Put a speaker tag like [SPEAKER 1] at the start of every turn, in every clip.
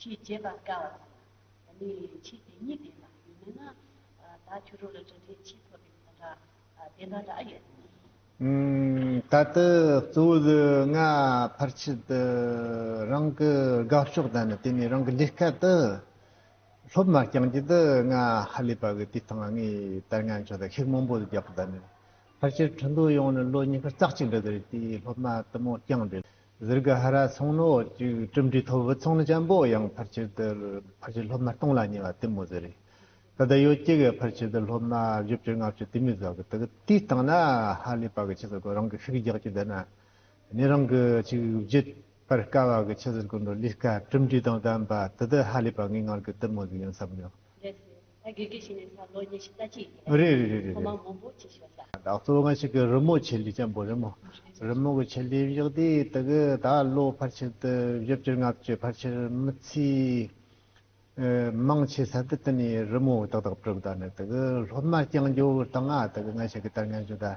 [SPEAKER 1] ཆེས་བརྗེད་པར་དཀའ་བ་དང། ད་ནི་ཆེས་དེ་ཉིད་ལྡན་པ་ཡོད་མོད་ན། ད་ཁྱོད་རང་ལ་འདྲ་འདྲའི་ཆེས་མཐོ་བའི་ཁོང་ཁྲག་ལྡན་པ་འདྲ་ཡོད་དམ། ད་ལྟ་གཙོ་བོ་ལུས་ངག་ཕར་ཕྱིན་དུ་རང་གི་དགའ་ཕྱོགས་དང་ནི་དེ་ནས་རང་གི་ལས་སྐལ་དུ་སློབ་མ་རྐྱང་རྒྱུད་དུ་ང་ཧ་ལས་པ་གི་དུས་ཐང་ལ་ངའི་དར་ངན་ཆོག་དང་ཤིག་མང་པོ་རྒྱག་པ་དང་ནི་ཕར་ཆེར་འཕྲིན་ཐུང་ཡོང་ནས་ལོ་གཉིས་ཀ་ཙག་ཅིག་འགྲོ་དེ་རེད་དེའི་སློབ་མ་དུ་མོ་རྐྱང་འདྲེ་ཟུར་གྱི་ཧ་ར་ཚོང་ནོ་འོག་བཅུག་གྲུབ་འབྲས་ཐོབ་བུ་ཚོང་ནི་ཅང་པོ་ཡང་ཕར་ཆེར་དུ་ཕར་ཆེར་སློབ་ན་སྟོང་ལ་ཉེ་བ་དེ་མོ་ཟེར་རེད་ད་ལྟ་ཡོ་སྐྱེ་གས་ཕར་ཆེར་དུ་སློབ་ན་བཞི་བཅུ་ལྔ་བཅུ་དེ་མི་ཟ་གི་འདུག་དེ་ལྟངས་ན་ཧ་ལས་པ་གི་ཆེ་ཟེར་གོ་རང་གི་ཤུགས་རྒྱག་རྒྱུ་འདི་ན་ནི་རང་གི་ཆིག་བརྒྱུད་པར་དཀའ་བ་གི་ཆེ་ཟེར་གོ་འགྲོ་ལུས་དཀའ་གྲུབ་འབྲས་དང་ལྡན་པ་དེ་དུ་ཧ་ལས་པ་ངའི་ངར་གི་དེ་མོ་ཟིག་ཡིན་བསམ་མྱོང། ད་གེ་གེ་བྱས་ནས་ད་ལོ་ཉི་ཤུ་རྩ་གཅིག་ཡིན་པ་རེད། རེད་རེད་རེད་རེད་ཐོག་མར་མང་པོ་བྱེད་ཤེས་པ་ཟ། བདག་གཙོ་བོ་ང་ཞིག་གི་རི་མོ་ཆེ་ལེ་ཆེན་པོ་རི་མོ་རི་མོ་གི་ཆེ་ལེ་བཞག་དུས་དེ་གི་ད་ལོ་ཕར་ཆེར་དུ་བཞི་བཅུར་ལྔ་བཅུ་ཕར་ཆེར་མི་ཚེའི་མང་ཆེ་ས་དེ་དེ་ནས་རི་མོ་ཏག་ཏག་བྲིས་པ་ད་ནི་དེ་གི་སློབ་མ་རྐྱང་འགྱུར་དང་ང་དེ་གི་ང་ཞིག་གི་ལྟར་ངན་ཞུ་ད།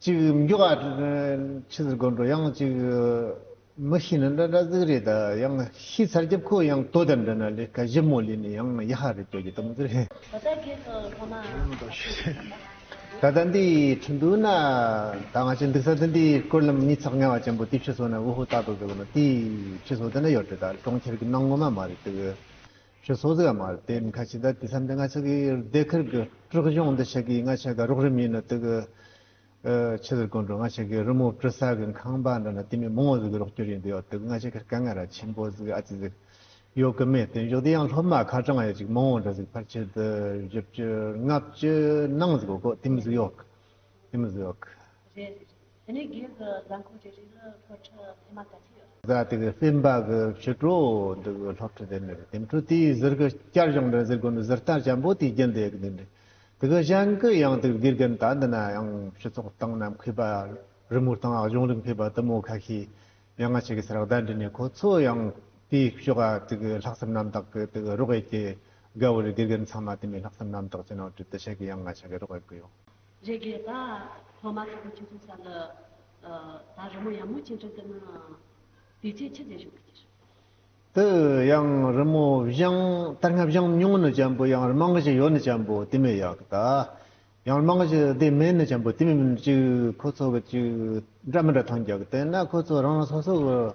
[SPEAKER 1] གཅིག་མགྱོགས་ཨ་ཕྱི་ཟེར་དགོད་འགྲོ་ཡང་གཅིག་མི་ཤི་ན་འདྲ་འདྲ་གཟིགས་རེད་ད་ཡང་ཤི་ཚར་རྒྱབ་ཁོ་ཡང་ལྟོ་དེར་འདྲ་ན་ལས་ཀ་ཞིབ་མོ་ལས་ནས་ཡང་ཡ་ཧ་རེད་སྐྱོ་རྒྱུ་དམ་ཟེར། ད་ལྟ་སྒེར་དུ་ལྷོ་མ། ད་ལྟ་འདི་ཁྲིན་ཏུའུ་ན་ད་ང་ཅི་འདུག་ས་འདི་འདི་སྐོར་ལམ་གཉིས་ཚགས་ཉལ་བ་ཅན་པོ་དེ་ཕྱི་སོ་ན་ཝུ་ཧུ་ཏག་ཏག་ཟེར་དགོས་ན་དེ་ཕྱི་སོ་དེ་ན་ཡོད་རེད་ད་གྲོང་ཁྱེར་གྱི་ནང་ངོ་མ་མ་རེད་འདུག། ཞེས་སོགས་ཟེར་བ་མ་རེད་དེ་མི་ཁ་ཆེ་ད་དུས་མཚམས་འདི་ང་ཚོ་གི་རྡེལ་ཁུལ་གི་དཀྲུག་གཞོང་འདི་ཆེ་གི་ང་ཆེ་ག་རོགས་རིམ་ཡིན་ནོ་དུག་ཆེ་ཟེར་དགོས་འགྲོ་ང་ཆེ་གི་རི་མོ་བྲི་ས་གི་ཁང་པ་འདི་ན་དེ་མི་མང་བོ་ཟིག་གི་རོགས་སྐྱོར་ཡིན་དུ་ཡོད་དུག་ང་ཆེ་གི་དཀའ་ངལ་ར་ཆེན་པོ་ཟིག་ཨ་ཙི་ཟིག་ཡོད་གི་མེད་དུ་འཇུག་དེ་ཡང་སློབ་མ་ཁ་གྲངས་ཡོད་ཅིག་མང་བོ་འདྲ་ཟིག་ཕར་ཆེར་དུ་བཞི་བཅུ་ལྔ་བཅུ་ནང་ཟིག་གོ་དེ་མི་ཟིག་ཡོད་གི་དེ་མི་ཟིག་ཡོད་གི།
[SPEAKER 2] དེ་ནས་སྒེར་གྱི་རྫ་འཁོར་གྱི་རིགས་ལ་འཁོར་ཁྲི་
[SPEAKER 1] ཕལ་མ་ག་ཅིག་ཡོད། རྫ་དེ་གའི་སྲིན་འབག་གི་ཕྱི་དྲོ་འདི་གའི་ལྷག་ཁྲི་དེ་ནས་དེམ་ཁྲི་དེའི་གཟིར་གྱི་སྐྱར་གཞུང་འདྲེན་གཟིར་གོ་ནི་གཟིར་རྟ་ཆེན་པོ་དེའི་རྒྱུན་དེ་གའི་དེམ་དེ་གའི་གཞན་གྱི་ཡང་དེ་གའི་དགེ་རྒན་དག་འདི་ན་ཡང་ཕྱི་ཚོགས་སྟེང་ནམ་མཁའི་བར་རི་མོ་དང་གཞུང་རིག་མཁས་པ་དུ་མོ་ཁ་ཤས་མྱ་ངན་བྱེད་ཀྱི་ས་རག་བརྡ་འདྲི་ནས་ཁོ་ཚོ་ཡང་དེའི་ཕྱི་ག་དེ་གའི་ལྷག་བསམ་རྣམ་དག་གི་དེ་གའི་རོགས་དབྱེ་ཀྱི་དགའ་བོ་རི་དགེ་རྒན་ཚང་མ་དེ་མའི་ལྷག་བསམ་རྣམ་དག་ཅི་ནང་བྲིས་ཏེ་བཤད་ཀྱི་ཡང་ང་ཆ་གའི་རོགས་དབྱེ་གི་ཡོད།
[SPEAKER 2] རེ་དགེ་ད་ཐོག་མ་ཧྲིལ་པོ་ཁྱེད་ཚོ་
[SPEAKER 1] ས་ལ་ད་རི་མོ་ཡང་མོ་ཅི་འདྲ་ཀི་ན་དེ་ཅི་ཆི་དེ་བཞུགས་ཀི་ཅི། དུ་ཡང་རི་མོ་བཞང་དར་སྔ་བཞང་སྙུང་ནི་ཅན་པོ་ཡང་རི་མང་གི་ཅི་ཡོ་ནི་ཅན་པོ་དེ་མི་ཡག་གི་ད་ཡང་རི་མང་གི་ཅི་དེ་མེད་ནི་ཅན་པོ་དེ་མི་མིན་ཅིག་ཁོ་ཚོ་གི་ཅིག་འདྲ་མི་འདྲ་ཐང་རྒྱག་གི་དེ་ན་ཁོ་ཚོ་རང་རང་སོ་སོ་གི།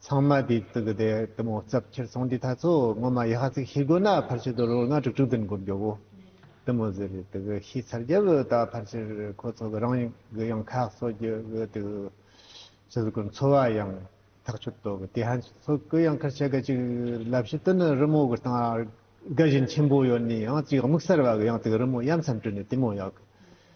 [SPEAKER 1] ཚང་མ་དེ་ཙི་གི་དེ་དུ་མོ་རྩབ་ཁྱེར་སོང་དེ་ཐ་ཚོ་ངོ་མ་ཡི་ཧ་ཚིག་ཤི་དགོས་ན་ཕར་ཆེར་དུ་རོ་ལྔ་དྲུག་དྲུག་ཏུན་དགོས་འགྱོ་བོ་དུ་མོ་ཟེར་རེད་དུ་གི་ཤི་ཚར་རྒྱབ་ད་ཕར་ཆེར་ཁོ་ཚོ་གི་རང་ཡུལ་གི་ཡང་ཁག་གསོ་རྒྱུ་གི་དུ་ཚོ་གི་འཚོ་བ་ཡང་ཐག་ཆོད་དོ་གི་དེ་ཧ་ཚོ་གི་ཡང་ཁར་ཆེ་གི་ཅིག་ལབ་ཤི་དུ་ནི་རི་མོ་གི་སྟང་རྒ་བཞིན་ཆེན་པོ་ཡོད་ནི་ཡང་ཅིག་དམིགས་སར་བ་གི་ཡང་དུ་གི་རི་མོ་ཡམ་ཚམ་བྲུ་ནི་དུ་མོ་ཡག་གི།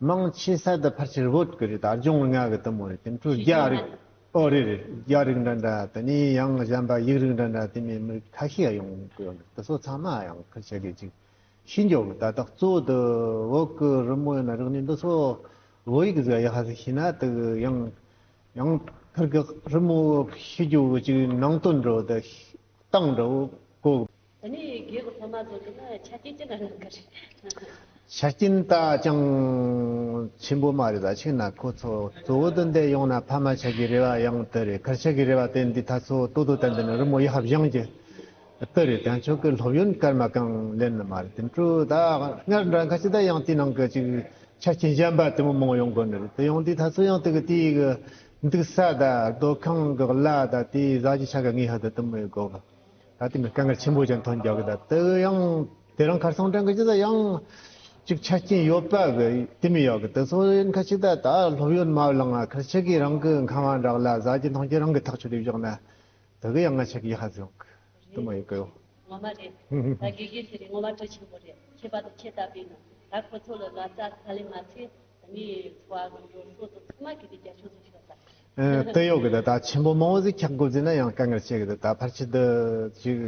[SPEAKER 1] དམངས་ཆེན་གསར་དུ་ཕར་ཆེར་བོད་དགེ་རིགས་དར་ལྗོངས་ལྔ་གི་དུ་མ་རེད་དེ་འཕྲོས་རྒྱ་རིགས། ཨོ་རི་རིགས་རྒྱ་རིགས་འདྲ་འདྲ་དེ་ནས་ཡང་གཞན་པ་ཡིག་རིགས་འདྲ་འདྲ་དེ་མིན་མི་རིགས་ཁ་ཤས་ཡང་ཡོང་གི་ཡོད་འདུག་དེ་ཚོ་ཚང་མ་ཡང་ཁུར་བྱེད་དགོས་ཅིག་ཤི་འགྱོ་གི་ད་ལྟ་གཙོ་བོ་དུ་བོད་ཀྱི་རི་མོ་ཡིན་ན་རིག་གནས་འདི་ཚོ་བོད་ཡིག་བཟོས་ཡག་ཧ་ཤི་ན་དུ་ཡང་ཡང་ཕུར་གྱི་རི་མོ་ཤི་འགྱོ་གི་ཅིག་ནང་དོན་འགྲོ་དུ་སྟངས་འགྲོ་གོ།
[SPEAKER 2] ད་ནི་རྒྱུད་ཀྱི་ཕ་མ་ཚོ་འདི་ན་ཆ་རྐྱེན་
[SPEAKER 1] ཅི་ལ་ཡོད་ག་རེད། ཆ་རྐྱེན་ད་ཅང་ཆེན་པོ་མ་རེད་ད་ཕྱིན་ན་ཁོ་ཚོ་གཙོ་བོ་དོན་དེ་ཡོང་ན་ཕ་མ་ཆགས་ཀྱི་རེ་བ་ཡང་དེ་རེད་གར་ཆགས་ཀྱི་རེ་བ་དེ་འདི་ད་ཚོ་ལྟོ་ལྟོ་དེ་འདི་ན་རི་མོ་ཡི་ཧབ་བཞེངས་ཀྱི་ལྟོ་རེད་དེ་ཆོག་གི་སློབ་ཡོན་སྐར་མ་གང་ལེན་ནི་མ་རེད་དེ་འཕྲུ་ད་སྔར་འདྲ་ག་ཅི་ད་ཡང་དེའི་ནང་གི་ཅིག་ཆ་རྐྱེན་གཞན་པ་དེ་མོ་མང་ཡོང་དགོས་ནི་རེད་དེ་ཡང་དེ་ད་ཚོ་ཡང་དེ་གི་དེའི་གི་འདུག་ས་ད་སྡོད་ཁང་གི་གླ་ད་དེའི་བཟའ་གྱི་ཆ་ག་ངའི་ཧ་ད་དུ་མོའི་དགོས་པ་ད་དེ་མི་སྐད་འགར་ཆེན་པོ་ཅན་ཐང་རྒྱག་གི་ད་དེ་གི་ཡང་དེ་རང་ཁར་སང་དྲན་གི་ཅི་ད་ཡང་ཅིག་ཆ་རྐྱེན་ཡོད་པ་གི་དེ་མི་ཡག་གི་དེ་སོ་ཡིན་ཁར་ཅིག་ད་ད་སློབ་ཡོན་མ་བླང་ང་ཁར་ཆེ་གི་རང་གི་མཁའ་དབང་བསྒྲགས་ལ་བཟའ་གྱི་འཐུང་གྱི་རང་གི་ཐག་ཆོད་དེ་བཞག་ན་དེ་གི་ཡང་ང་ཆེ་གི་ཧ་བཟོ་གི་དེ་མ་རེད་ཡོད་གི་ཡོད། ངོ་མ་རེད། ད་དགེ་རྒན་དེ་རིགས་ངོ་མ་གྲོས་ཆེན་པོ་རེད་
[SPEAKER 2] ཁྱེད་པ་དང་ཁྱེད་ལྟ་བུས་ནང་ད་ཁོ་ཚོ་ལ་ལ་རྩ་ཁ་ལེན་མ་ཚེ་སྟོད་གཡོག་གི་དེ་དག་
[SPEAKER 1] ཆེན་པོ་མང་བོ་ཟིག་འཁྱག་དགུ་བརྫིས་ན་ཡང་དཀའ་ངལ་ཆེ་གི་དེ་དག་ཕར་ཆེ་དུ་ཅིག།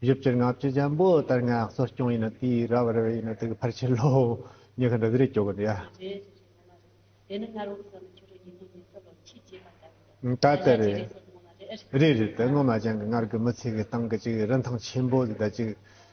[SPEAKER 1] ཡུལ་གྱི་ལྔ་བཅུ་ཆེན་པོ་ལྟར་ངག་གསོ་སྐྱོང་ཡིན་ན་དེའི་ར་བ་རེ་བས་ཡིན་ན་དེ་ཕར་ཆེ་ལོ། ཉི་ཁ་འདྲ་ཟིག་རེ་སྐྱོ་གི་འདུག་ཡ།
[SPEAKER 2] ད་དེ་
[SPEAKER 1] རེད། རེད་རེད་དེ་སྔོན་མ་ཅན་གི་སྔར་གི་མི་ཚེ་གི་སྟངས་ཀྱི་ཅིག་རིན་ཐང་ཆེན་པོ་ཟིག་ད་ཅིག།